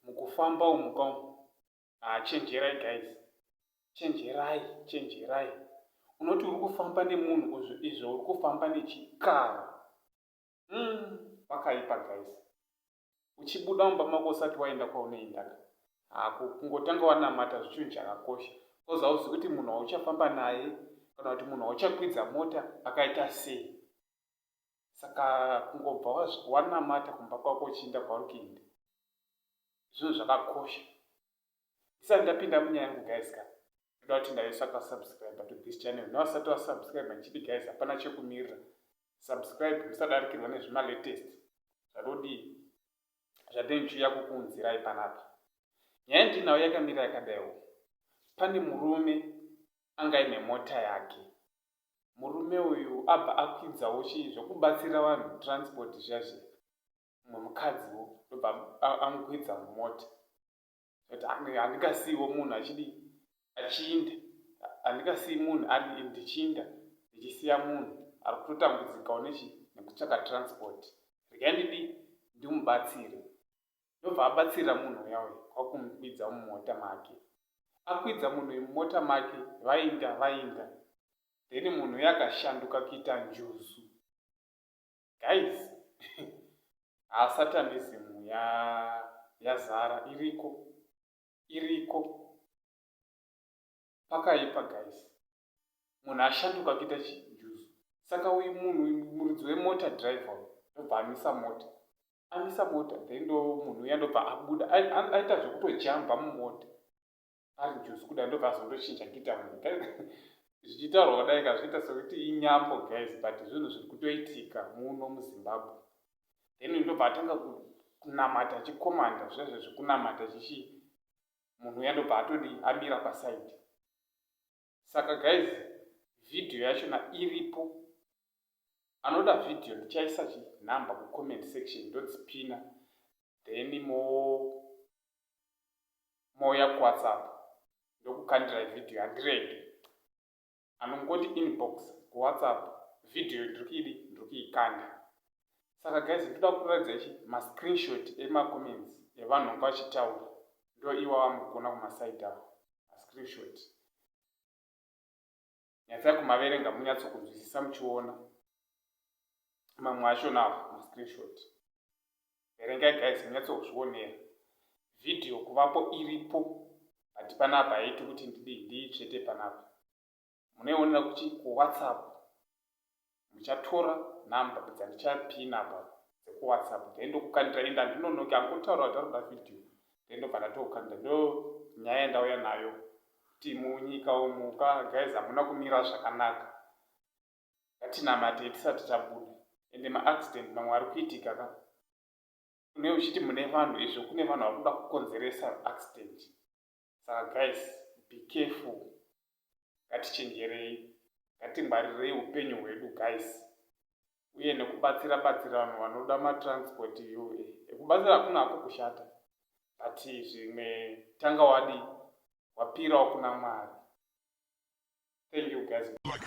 mukufamba umu kamu ah, chenjerai guys chenjerai chenjerai unoti uri kufamba nemunhu izvo uri kufamba nechikara hmm, pakaipa guys uchibuda mumba mako usati waenda kwaunoendaka hako kungotanga wanamata zvichinhu chakakosha coz hauzi kuti munhu wauchafamba naye kana kuti munhu wauchakwidza mota akaita sei saka kungobva wanamata kumba kwako uchiinda kwauri kuenda zvinhu zvakakosha ndisati ndapinda munyaya yangu guys ka ndoda kuti ndaisa pasubscribe to this channel newasati wasubscribe ndichiti guys hapana chekumirira subscribe musadarikirwa nezvimalatest zvatodii zvatenchiuya kukuunzirai panapa nyaya ndinayo yakamira yakadaiwo pane murume anga ine mota yake murume uyu abva akwidzawo chii zvekubatsira vanhu transport zvazve mumwe mukadziwo ndobva amukwidza mumota but handingasiiwo munhu achidii achiinda handingasii munhu ari ndichiinda ndichisiya munhu ari kutotambudzikawo nechi nekutsvaka transport regai ndidii ndimubatsire ndobva abatsirira munhu uya uya kwakumukwidza mumota make akwidza munhu uyu mumota make vainda vainda then munhu uya akashanduka kuita njuzu guys haa satanism ya yazara iriko iriko pakaipa guys munhu ashanduka kuita chijuzu saka uyu munhu muridzi wemota driver ndobva amisa mota amisa mota then ndo munhu uya ndobva abuda aita zvekutojamba mumota ari juzi kuda ndobva azondochinja kuita munhu zvichitaurwa kudai kazviita sekuti inyambo guys but zvinhu zviri kutoitika muno muzimbabwe then ndobva atanga kunamata achikomanda zvezve zvekunamata chichi munhu uya ndobva atodi amira pasaidi saka guys video yachona iripo anoda video ndichaisa chinumber kucomment section ndodzipina then mo mouya kuwhatsapp ndokukandirai video handirege anongoti inbox kuwhatsapp video ndiri kuidi ndiri kuikanda saka guys ndoda kutoratidza ichi ma screenshot ema comments evanhu vanga vachitaura ndo iwawa mukuona kumaside avo ma screenshot nyatsai kumaverenga munyatso kunzwisisa muchiona mamwe acho nawo ma screenshot verengai guys munyatso kuzvionera video kuvapo iripo but panapa haiti kuti ndidii ndiitsvete panapa munoionera kuti kuwhatsapp muchatora number dzandichapina pa dzekuwhatsapp then ndokukandira enda ndinonoke angotaura kuti arikuda video then ndobva ndatokandira ndo nyaya yandauya nayo kuti munyika umuka guys hamuna kumira zvakanaka ngatinamate tisati tabuda ende maaccident mamwe ari kuitika ka une uchiti mune vanhu izvo kune vanhu vari kuda kukonzeresa accident Saka guys be careful ngatichenjerei ngatingwarirei upenyu hwedu guys uye nekubatsira batsira vanhu vanoda matransport yo ekubatsira hakuna hako kushata but zvimwe tanga wadi wapirawo kuna mwari thank you guys like